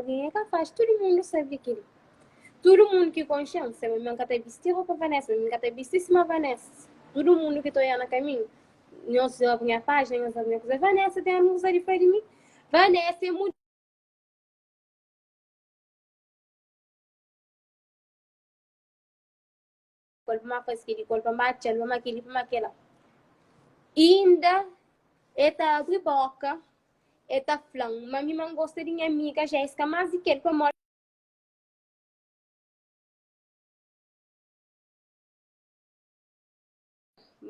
Algen é ka faxi tudu mundu sabe di kel-li. Tudu mundu ki konxe-m sabe ma N ka ta bisti ropa Vanessa, mi mi ka ta bisti sima Vanessa. Tudu mundu ki ta oja na kaminhu, nhos djobe nha pájina, nhos sabe nha kuza. Vanessa ten amigus la di fla di mi, Vanessa é mudjer. kol pa ma faz kili, kol pa ma txal, pa ma kili, pa ma kela. Inda e ta abri boka, e ta fla-m ma mi ma N gosta di nha amiga Jessica más di kel pamodi.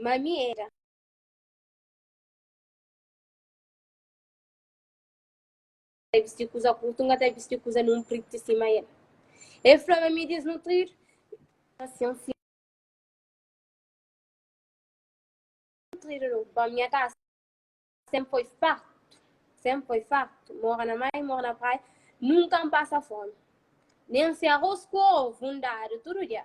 Ma mi éra. ta bisti kuza kurtu, N ka ta bisti kuza nunpritu sima el. El fla ma mi disnutridu, asin fla nutridu nu ba nha kasa sen poi fartu, sen poi fartu, mora na mai, mora na praia, nunka N pasa fomi, nen se arros ku ovu N dadu tudu dia.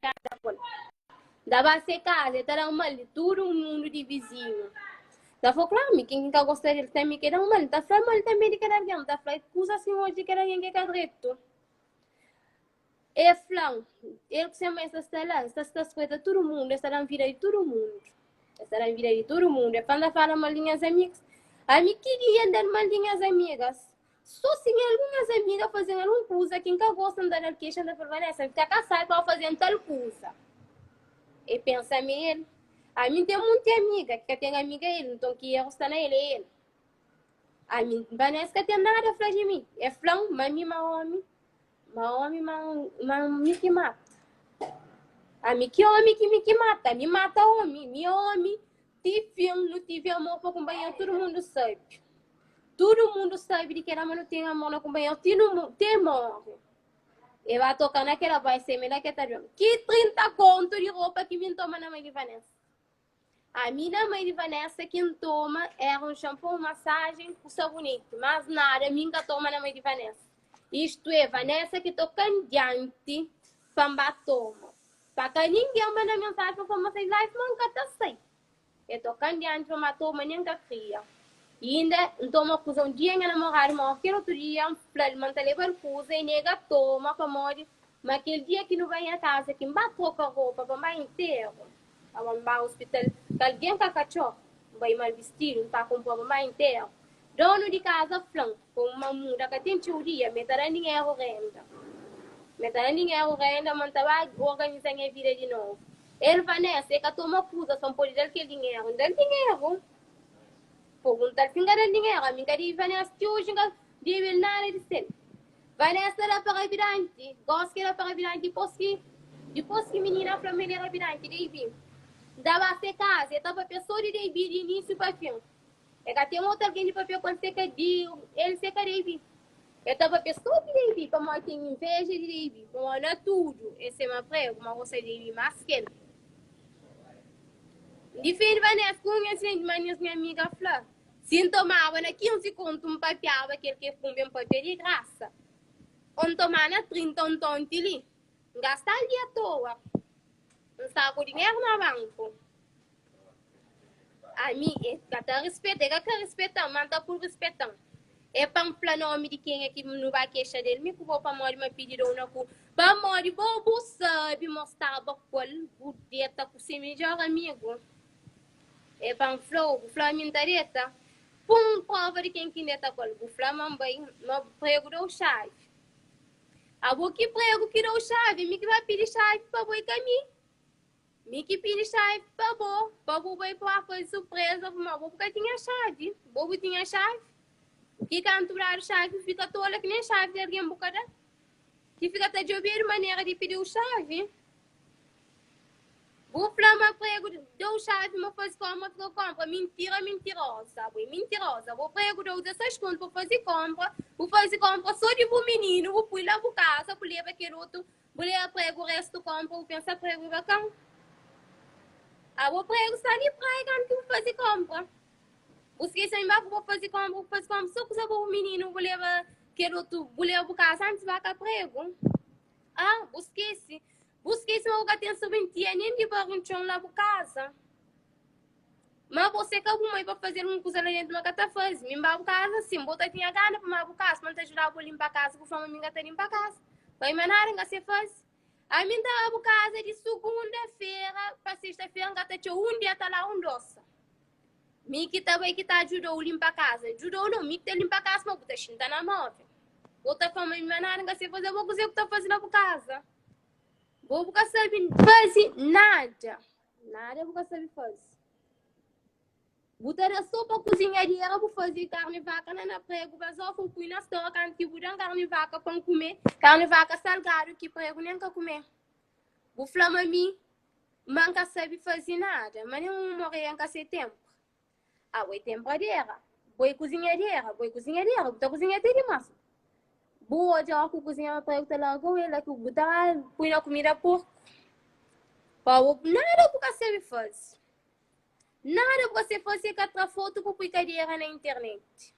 casa con. Da ba se casa, e ta da mal di tudo mundo di vizinho. Da fo claro, mi quem ka gosta del também que da mal, ta fla mal também de cada alguém, ta fla coisa assim hoje de cada alguém que ka direito. E flan, ele que se mais está lá, está está espreita todo mundo, está na vida de todo mundo. Está na vida de todo mundo. E fala fala mal de minhas amigas. A mim que dia andar mal de minhas amigas. Sô si nha algumas amiga faze-m algun kuza ki N ka gosta, N ta da-l kexa, N ta fla-l, Vanessa, N fika kasadu pa bu faze-m tal kuza. E pensa ma é el. Ami N ten monti amiga ki ka ten amiga el, nton ki erru sta na el, é el. Ami, Vanessa, ka ten nada fla di mi. El fla-m ma mi ma ómi, ma ómi ma ma mi ki mata. Ami, ki ómi ki mi ki mata? Mi mata ómi, mi é ómi. Ti fin nu tivi amor pa kunpanheru tudu mundu sabi Tudu mundu sabi di kela ma nu ten amor na kunpanheru ti nu mo- te morri E ba toka na kela bai seme na ke ta djom Ki 30 kontu di ropa ki mi n toma na mai di Vanessa Ami na mai di Vanessa ki n toma era un shampoo un masajen ku saboneti Mas nada mi n ka toma na mai di Vanessa Istu e Vanessa ki toka-m dianti pa n ba toma Sa ka ningen manda mensaji pa fla ma ses life ma nka ta sai e tokan dianti pa ma ator ma nen ka kria i inda ntoma kuza un dia nha namoradu ma oker otu dia nflal ma nta lebal kuza e nega toma pamodi ma kel dia ki nu bai nha kaza ki nba troka ropa pa nbai enteru awa nba hospital kalgen ka ka txor nbai mal bistidu nta konpra pa nbai enteru Donu di kaza fla-m, Komu ma N muda ka ten txeu dia, mi ta da dinheru renda. Mi ta da dinheru renda ma N ta ba organiza nha vida di novu. El fla, Nessa, el ka toma kuza sta, N pode da-l kel dinheru? N da-l dinheru. Pergunta-l si N ka da-l dinheru. Ami N ka debe Vanessa ti oji, N ka debe-l nada di sel. Vanessa da pa rabidanti. Gósi ki el da pa rabidanti, dipôs ki, dipôs ki minina fla ma el é rabidanti, debe. N ta ba se kaza. El ta papia sô di debe, di inisiu pa fin. E ka ten otu algen di papia ku el se ka di el se ka Davi. E ta papia so di Davi, pamodi e ten inveja di Davi. Bo bai na tudu, e se ma pregu, ma gosta di Davi mas ki el. N difende Vanessa ku un insidenti di manhas. Nha amiga fla, Si N tomaba na 15 kontu, N papiaba kel ki e kunbe, N papia di grasa. O N toma na 30, o N tonti li. N gasta li atoa. N sta ku dinheru na banku. Ami e ka ta rispeta, e ka ka rispeta-m, ma N ta pui rispeta-m. E pa N fla nomi di kenha ki nu ba kexa del, mi ku bo, pamodi ma pidi da-u na ku. Pamodi bo bu sabe ma staba ku el, bu deta ku se midjor amigu. E pa N fla-u, bu fla mi N ta deta? Pun prova di ken ki N deta ku el. Bu fla ma N bai, ma bu pregu da-u xavi. Abo ki pregu ki da-u xavi, mi ki ba pidi xavi pa bo i ka mi. Mi ki pidi xavi pa bo, pa bu bai pua pa di surpreza bu, ma bo bu ka tinha xavi. Bo bu tinha xavi? Ki kantu bu dadu xavi, bu fika tola ki nen xavi di algen bu ka da, ki fika ta djobedu manera di pidi-u xavi? Bu fla ma pregu da-u xavi ma faze kónpra, ma fika kónpra. Mintira, mintiroza bu é mintiroza. Bu pregu da-u 16 kontu pa faze kónpra, bu faze kónpra sô di bu mininu, bu pui la bu kaza, bu leba kel otu, bu leba pregu restu kónpra, bu pensa pregu é bakan. Abo pregu sta di praia kantu ki bu faze kónpra. Bu skese mi ba ku bu faze kónpra, bu faze kónpra sô kuza pa bu mininu, bu leba kel otu, bu leba bu kaza antis ba ka pregu. Ah, bu skese. Bu skese ma bu ka ten serventia nen di barri un txon la bu kaza. Ma bo se ka bu mai pa faze algun kuza la dentu ma ka ta faze. Mi N ba bu kaza sin. Bo ta tinha gana pa ma bu kaza pa N ta judaba bo linpa kaza. Bu fla ma mi N ka ta linpa kaza. Bai ma nada N ka se faze. Ami N ta ba bu kaza di sugunda-fera pa sesta-fera. N ka ta txeu un dia ta la un dosa. Mi ki ta bai ki ta judau linpa kaza. Judau nau, mi ki ta linpa kaza ma bu ta xinta na movel. Bo ta fla ma mi ma nada N ka se faze. Bo kuze ku ta faze na bu kaza? Bo bu ka sabe faze nada. Nada bu ka sabe faze. Bu ta da sopa kuzinhadeira bu faze karni vaka na na pregu ba zofa u pui na stor kantu ki bu dan karni vaka pa N kume karni vaka salgadu ki pregu nen ka kume. Bu fla ma mi ma N ka sabe faze nada ma nen un un morrer N ka se tenpu. Ah, bo é tenpadera, bo é kuzinhadera, bo é kuzinhadera, bu ta kuzinha te dimás. Bu odja óras ku kuzinha ma pare ku ta larga-u, é la ki bu ta pui na kumida porku. Pa bo, nada bu ka sabe faze, nada bu ka sabe faze, ka tra fotu ku pui kadera na internet.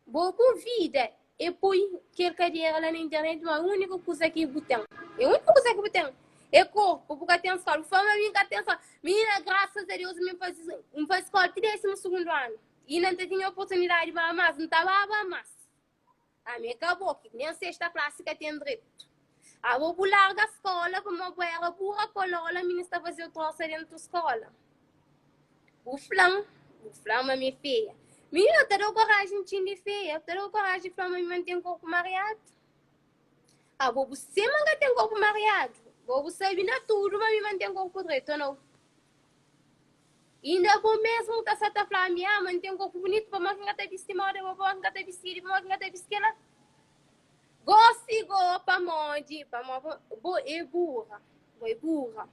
Bo bu vida e poi kel kadera la na internet ma úniku kuza ki bu ten. É úniku kuza ki bu ten. É korpu, bu ka ten skóla. Bu fla ma mi ka ten skóla. Minina, grasas a Deus mi N faze, N faze skóla ti désimu sugundu anu. I N ta tinha oportunidadi ba más, N ta baba más. Ami é ka bo, ki nen sesta klasi ka ten dretu. Abo bu larga skola pamó bu éra bura kolola, mi N sta fazê-u trosa dentu skola. Bu fla-m, bu fla-m ma mi é feia. Mininu, N ta da-u koraji ntxin di feia, N ta da-u koraji di fla-m ma mi ma N ten korpu mariadu. Abo bu sema N ka ten korpu mariadu, bo bu sabe na tudu ma mi ma N ten korpu dretu, o nau? Inda bo mesmu ka sa ta fla mi, Ah, ma N ten korpu bunitu, pamodi ki N ka ta bisti moda bo? Pamodi ki N ka ta bisti kel-li? Pamodi ki N ka ta bisti kel-la? Gósi bo pamodi, pamodi bo é burra, bo é burra.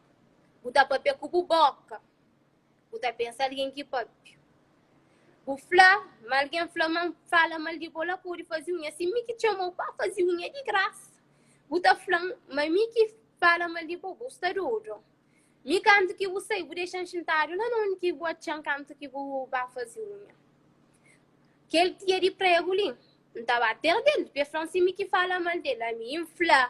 Bu ta pâpia ku bu bóka, bu ta pensa algen ki pâpia. Bu fla ma algen fla ma N fala mal di bo, la ku bu pode faze unha. Si mi ki txoma-u pa faze unha di grasa, bu ta fla-m ma mi ki fala mal di bo? Bu sta dodu. Mi kantu ki bu sai, bu dexa-m xintadu la na un ki bu atxa-m kantu ki bu ba faze unha. Kel tia di pregu li, N ta ba perde-l, p'e fla-m si mi ki fala mal del. Ami N fla,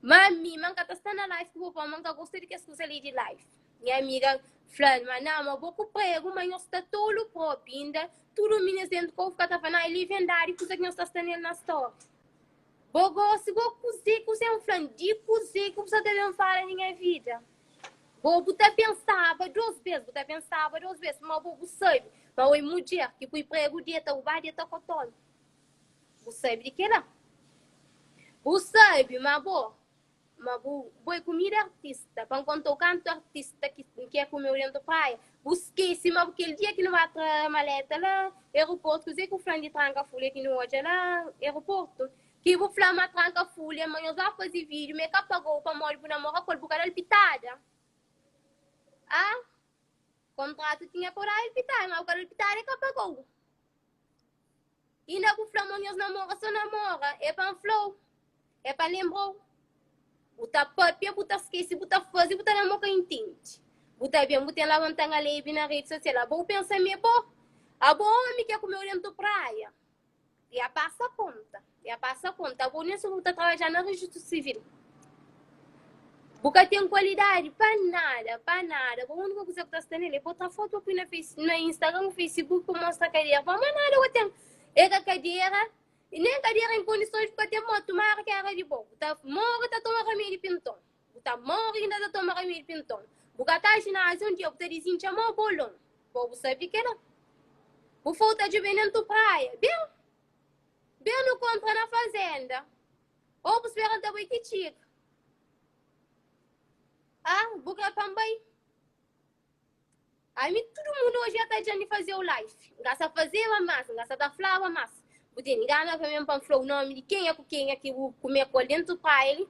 Ma ami, ma N ka ta sta na life ku bo, pamodi N ka gosta di kes kuza li di life. Nha amiga fla-l, Ma na, ma bo ku pregu, ma nhos sta tolu propi. Inda tudu minês dentu kovu ka ta fla, Na, el li vendadi kuza ki nhos ta sta nel na stóri. Bo gosi bo kuze ku sen flan di kuze ku bu sa ta ben fala na nha vida. Bo bu ta pensaba dos bes, bu ta pensaba dos bes, ma bo bu sabi ma oi mudjer ki pui pregu di e ta rubadu e ta kotolu. Bu sabi di kila. Bu sabi ma bo Ma bu bai ku mi di artista pa N konta-u kantu artista ki N ke kume-u dentu praia Bu skese ma bu kel dia ki nu ba tra maleta la Aeroportu Kuze ku fla-m di tranka fulia ki nu odja la Aeroportu Ki bu fla ma tranka fulia ma nhos ba faze video ma e ka paga-u pamodi bu namora ku el bu ka da-l pitada Ah Kontratu tinha pa bu da-l pitada ma bu ka da-l pitada e ka paga-u. Inda bu fla mo nhos namora so namora é pa nfla-u é pa lenbra-u bu ta papia bu ta skese bu ta faze bu ta da mo ka intende bu ta ben bu ten la wanta nha lebe na rede social abo u pensa me bo abo omi ke ku meu dentu praia ya pasa konta. Ya pasa konta bo, nê sô bu ta trabadja na rejistu sivil. Bu ka ten kualidadi pa nada, pa nada. Bo úniku kuza bu ta sta nel é bota fotu pa pui na face, na Instagram ku Facebook pa mostra kadera. Pamodi ma nada bu ten, é ka kadera, nen kadera en kondisons bu ka ten. Má tumara ki éra di bo, bu ta móre ta toma ramédi pinton. Bu ta móre inda ta toma ramédi pinton. Bu ka ta jináziu un dia bu ta dizin txamau bolon. Bo bu sabe di kel-la? Bu fôu ta djobe nen tu praia. Ben, Ben nu konpra na fazenda. Ou bu spera el ta bai ti txiga. Ah, bu kre pa N bai? Ami tudu mundu oji ata dja N fazeu life. N ka sa fazeba mas, N ka sa ta flaba mas. Bu ten gana pa ben pa N flau nomi di kenha ku kenha ki bu kume ku el dentu paili?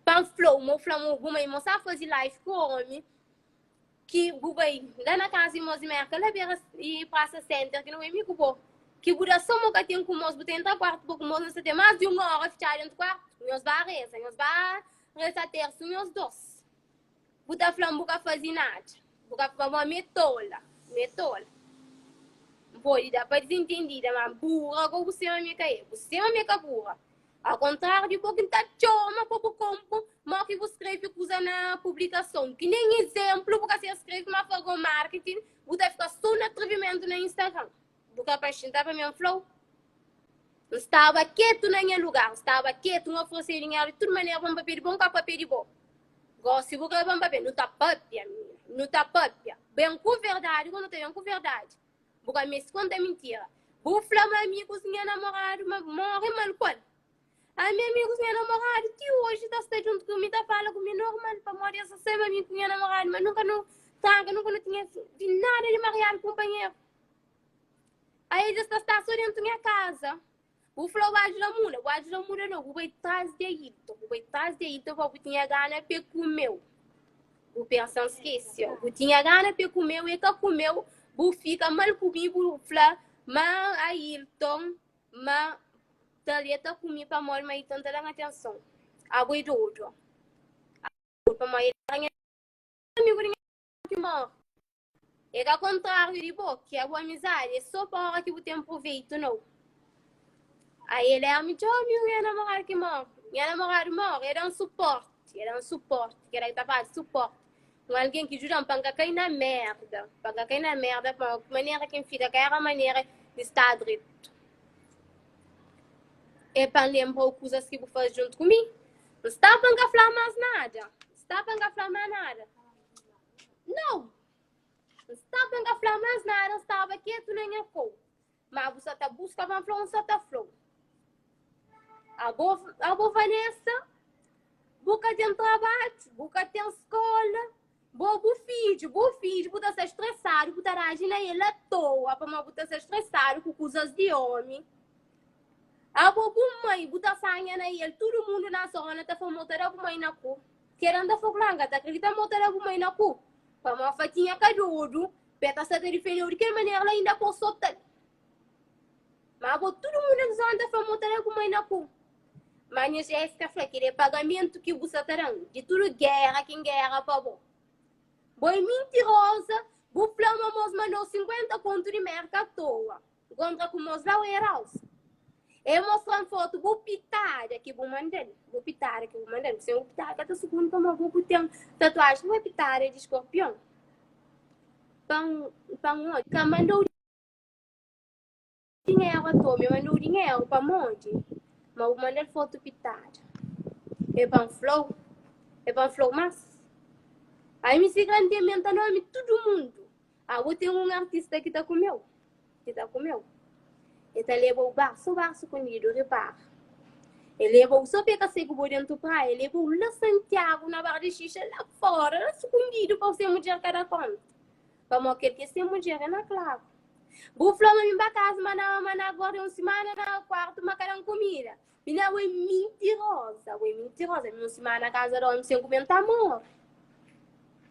Pa N flau ma bu fla ma bu bai ma bu sa fazi life ku omi. Ki bu bai la na kaza di mos di Merka, la bera di Prasa Senter, ki nu bai mi ku bo. Ki bu da soma ka ten ku mos, bu ta entra kuartu bo ku mos, nu sta ten mas di un ora fitxadu dentru kuartu. Nhos ba reza, nhos ba reza Tersiu nhos dos. Bu ta fla-m bu ka fazi nada, bu ka fla ma mi é tola, mi é tola. N pode da pa dizintendida, ma bura ka bu sê, ma mi ka é. Bu sê, ma mi ka bura. Au kontráriu di bo ki N ta txoma pa bu konpu, mô ki bu skrebe kuza na publikason ki nen izénplu bu ka ser skrebe, má fla gó marketing bu ta fika sô na atrivimentu na Instagram. Bu ka paxenta pa mi? N fla-u. N staba ketu na nha lugar, N staba ketu, N oferese dinheru di tudu manera pa N pâpia di bo, N ka pâpia di bo. Gósi bu krê pa N pâpia? Nu ta pâpia, mina, nu ta pâpia. Ben ku verdadi ku nu ta ben ku verdadi. Bu ka meste konta mintira. Bu fla ma amigus nha namoradu ma móre ma alkol. Ami, amigus nha namoradu ti oji ta sta djuntu ku mi, ta fala ku mi normal pamodi es ta sema mi ku nha namoradu. Ma nunka nu tranka, nunka nu tinha di nada di mariadu kunpanheru. Aidja es ta sta so déntu nha kaza. Bu fla bu ajuda muda, bu ajuda muda no, bu bai tras di Ailton, bu bai tras di Ailton pa bu tinha gana pe kumeu. Bu pensa N skese, ó, bu tinha gana pe kumeu, e ka kumeu, bu fika mal ku mi, bu fla ma Ailton, ma Talia ta ku mi pamodi ma Ailton ta da-m atenson. Abo e dodu, ó. Abo e dodu pamodi el ta da-m atenson. Amigu di nha. ki mor. É ka kontráriu di bo, ki é bu amizadi, é sô pa óra ki bu ten pruvéitu nau. Ai el éra mi txomi u nha namoradu ki mor. Nha namoradu mor, el da-m supórti, el da-m supórti, keda ki ta fala di supórti, un algen ki djuda-m pa N ka kai na mérda, pa N ka kai na mérda, pa manera ki N fika ka éra manera di sta dretu. É pa N lenbra-u kuzas ki bu faze djuntu ku mi. N sta pa N ka fla-u más nada, N sta pa N ka fla-u más nada. Nau! N sta pa N ka fla más nada, N staba ketu na nha kau Má bu sa ta buska ma N fla-u, N sa ta fla-u Abo, abo Vanessa Bu ka ten trabadju, bu ka ten skola Bo bu fidju, bu fidju, bu ta sta stresadu Bu ta reaji na el atoa pamó bu ta sta stresadu ku kuzas di ómi Abo bu mai, bu ta sanha na el Tudu mundu na zóna ta fla ma bu ta da bu mai na ku. Keda nta fla ku la, N ka ta kridita ma bu ta da bu mai na ku. Pamó Fatinha ka dodu, pe ta sta ta difende'u di kel manera la inda pô sota'l. Ma bo tudu munda ki zoan ta fla ma bu ta da bu mai na ku. Ma nha xef ka fla, Keda é pagamentu ki bu sa ta dan di tudu gera ki N gera pa bo. Bo é mintiroza, bu fla ma mos manda'u 50 kontu di merka atoa. Bu kontra ku mozau e raus. E mostra-m fotu bu pitada ki bu manda-l. Bu pitada ki bu manda-l. Sen bu pitada ka ta sugundi pamodi bu ku ten tatuajen. Bu é pitada di skorpion. Pa N pa N odja. Ka manda-u dinheru a toa. Mi N manda-u dinheru pamodi ma bu manda-l fotu pitada. E pa N fla-u. E pa N fla-u mas. Ami sigra N ten mi N ta nome tudu mundu. Ah, bu tem um artista que tá com eu, que tá com eu. Ele tá leva o barço, barço escondido, repara. Ele leva o só peca seco por dentro praia, ele leva o lá Santiago na barra de xixa, lá fora, lá escondido para ser mulher cada conta. Para mó quer que ser mulher é na claro. Bu flama me ba casa, mas na, mas na agora é um semana na quarto, mas cada comida. Mina ue mintirosa, ue mintirosa Mina un simana na kaza di omi sen kume N ta morri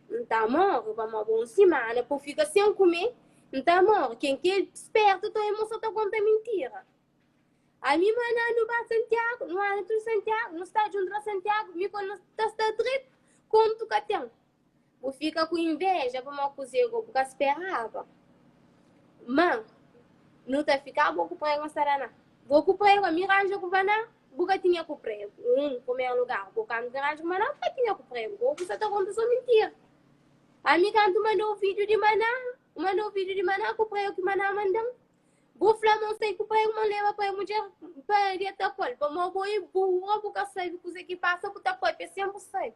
N ta morri pamodi bo un simana pa u fika sen kume N ta morri Ken ki é spertu ta ue mo so ta konta mintira Ami i Maná nu ba Santiagu nu anda tudu Santiagu nu sta djuntu na Santiagu mi ku el nu ta sta dretu kontu ka ten Bu fika ku inveja pamó kuzê go bu ka speraba. Má, nu ta fika bo ku pregu na Saraná. Bo ku pregu, ami ranja ku Vaná, bu ka tinha ku pregu. Hum, primeru lugar, bo kantu ki ranja ku Maná, bu ka tinha ku pregu. Bo ku sa ta konta so mintira. Ami kantu manda un fidju di Maná, N manda un fidju di Maná ku pregu ki Maná manda-m. Bu fla ma N sai ku pregu, ma N leba pregu mudjer pa deta ku el. Pamó bo e burra, bu ka sabe kuzê ki pasa, bu ta pâpia sen bu sabe.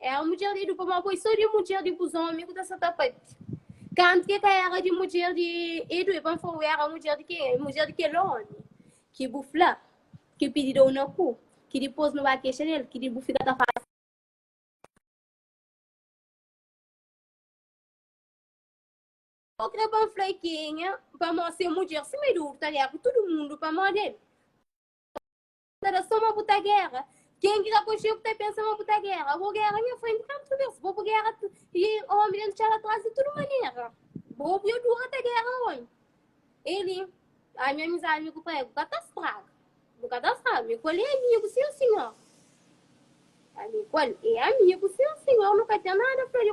É un mudjer di Dupa, má poi sô di mudjer di bus ómi ku ta seta pati. Kantu ke ka éra di mudjer di Edu, e ba-m fla, Wi, éra mudjer di kenha? É mudjer di kel ómi ki bu fla ki pidi dou na ku, ki dipôs nu ba kexa di el, ki di bu fika ta fase. Bo krê pa N fla i kenha? Pamodi si é mudjer sima Edu, bu ta leba tudu mundu pamodi el. ta da soma bu ta guerra quem que ka conxeu ku ta pensa ma bu ta guerra bo guerra nha frente kantu bes bo bu guerra e homem dentro txada atrás di tudu manera bo bu yo dura ta guerra oi ele a nha amizade mi ku prega bu ka ta straga bu ka ta straga mi ku el e amigu sim senhor ami ku el e amigu sim senhor nu ka ten nada fla di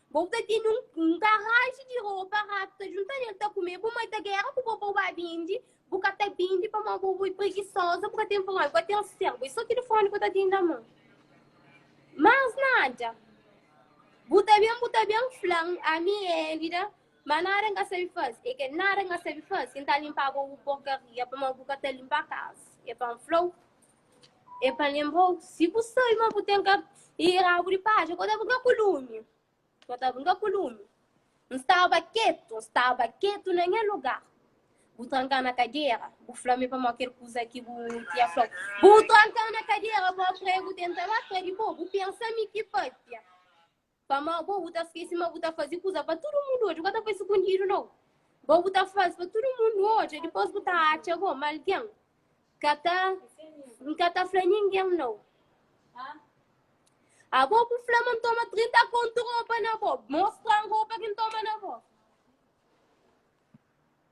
Bo bu ta tene un un karaji di ropa, ratu ta junta nel ta kume, bu mai ta gera ku bo pa bu ba bindi, bu ka ta bindi pamó bo bu e pregisoza, bu ka ten pamó, bu ka ten serbu, e so tilifoni ku ta tene na mon. Mas nada, bu ta ben bu ta ben flan, ami e Elida, ma nada N ka sabe fase, e ke nada N ka sabe fase, N ta linpa bo bu porkaria, pamó bu ka ta linpa kasa, e pa N flau, É pa lenbra-u, si bu sabe ma bu ten ka e rabu di paja, kau ta brinka ku lumi, kau ta brinka ku lumi. N staba ketu, n staba ketu na nha lugar. Bu tranka na kadera, bu fla mi pamodi kel kuza ki bu tinha flau. Bu tranka na kadera, bo pregu tenta ba tra di bo, bu pensa mi ki pâpia. Pamó bo, bu ta skese ma bu ta faze kuza pa tudu mundu odja. Bu ka ta faze sukundidu, nau. Bo, bu ta faze pa tudu mundu odja, dipôs bu ta atxa bo. Má algen ka ta. N ka ta fla ningen, nau. Abo bu fla ma N toma trinta kontu ropa na bo. Mostra-m ropa ki N toma na bo.